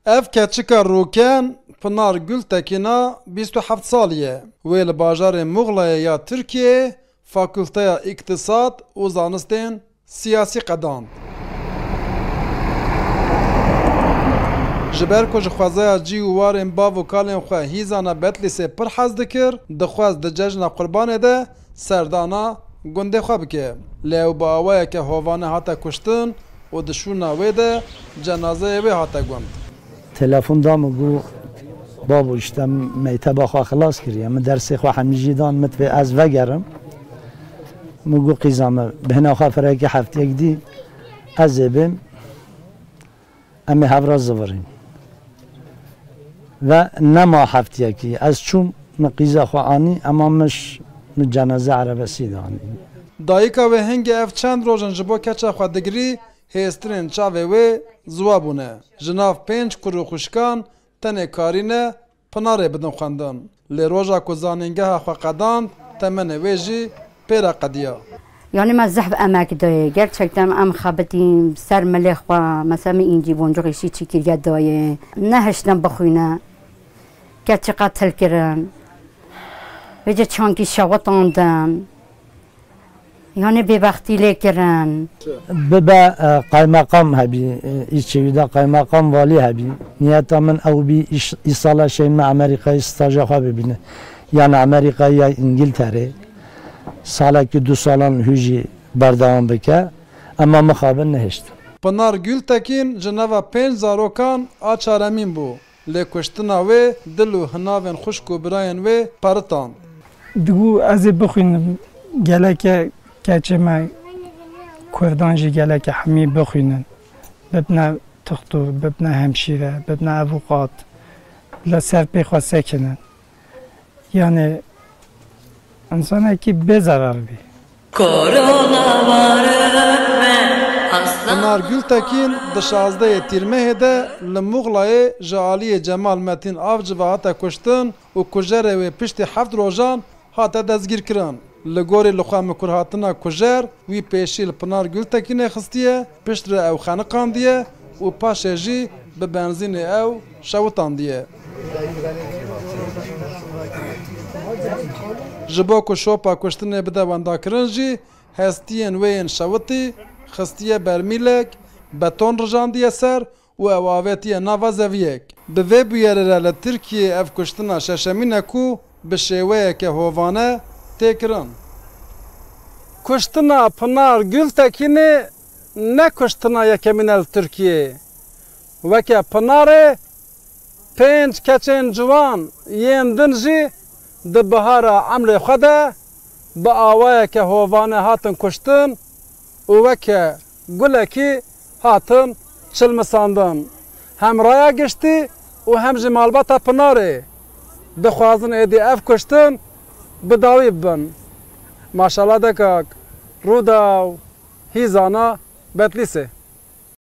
Ev keçika rûken Pinar Gultekina bîst û heft salî ye. Wê li bajarê Muxlayê ya Tirkiyeyê Fakulteya Îktisad û Zanistên Siyasî qedand. Ji ber ku ji xwezaya cî û warên bav û kalên xwe hîzana Betlîsê pir hez dikir, dixwest di cejna Qurbanê de serdana gundê xwe bike. Lê ew bi awayeke hovane hate kuştin û di şûna wê de cenazeyê wê hate gund. Telefon da min got, Babo îşte min meyteba xwe xilas kiriye. Min dersê xwe hemî jî dan, min divê ez vegerim. Min got, Qîza min, bihna xwe firekê hefteyek dî ez ê bêm. Em ê hev re zivirîn. Ve nema heftiyekî ez çûm, min qîza xwe anî, ema mij min ceneze erebesî de anî. Dayika wê hingê ev çend roj in ji bo keça xwe digirî, hêztirên çavê wê ziwa bûne. Ji nav pênc kur û xwişkan tenê Karîne, Pinarê bidin xwendin. Lê roja ku zanîngeha xwe qedand temenê wê jî pê re qediya. Yanî me zehf emek dayê. Gerçekten em xebitîn ser milê xwe. Mesela min încî boncuxê şî çî kiriye dayê. Nehiştin bixwîne. Keçî qetil kirin. Vê cî çankî şewitandin. Yanê bêbextî lê kirin. Bibe qaymeqam hebî î çêwî de qaymeqam valî hebî. Niyeta min ew bî î sala şên me Amerîkayê staja xwe bibîne. Yan Amerîkayê yan Îngilterê. Salekî du salan hû jî berdewam bike. Ema mixabin nehiştin. Pinar Gultekin ji nava pênc zarokan a çaremîn bû. Lê kuştina wê dil û hinavên xwişk û birayên wê peritand. Digo ez ê bixwînim, geleke keçê me kurdan jî geleke hemî bixwînin, bibne tixtor, bibne hemşîre, bibne evuqat, li ser pê xwe sekinin. Yanê insanekî bê zerar bî. Pinar Gultekin di şazdeyê Tîrmehê de li Muxlayê ji aliyê Cemal Metîn Avci ve hate kuştin û kujerê wê piştî heft rojan hate destgîrkirin. Li gorî li xwe mikurhatina kujer, wî pêşî li Pinar Gultekinê xistiye, piştre ew xeniqandiye û paşê jî bi benzînê ew şewitandiye. Ji bo ku şopa kuştinê bide wendakirin jî hestiyên wê yên şewitî xistiye bermîlek, beton rijandiye ser û ew avêtiye nava zeviyek. Bi vê bûyerê re li Tirkiyeyê ev kuştina şeşemîn e ku bi şêweyeke hovane tê kirin. Kuştina Pinar Gultekinê ne kuştina yekemîn e li Tirkiyeyê. Weke Pinarê Pênc keçên ciwan yên din jî di bihara emrê xwe de bi awayeke hovane hatin kuştin û weke gulekî hatin çilmisandin. Hem raya giştî û hem jî malbata Pinarê dixwazin êdî ev kuştin bi dawî bibin. Maşallah dekak, Rûdaw, Hîzana, Betlîsê.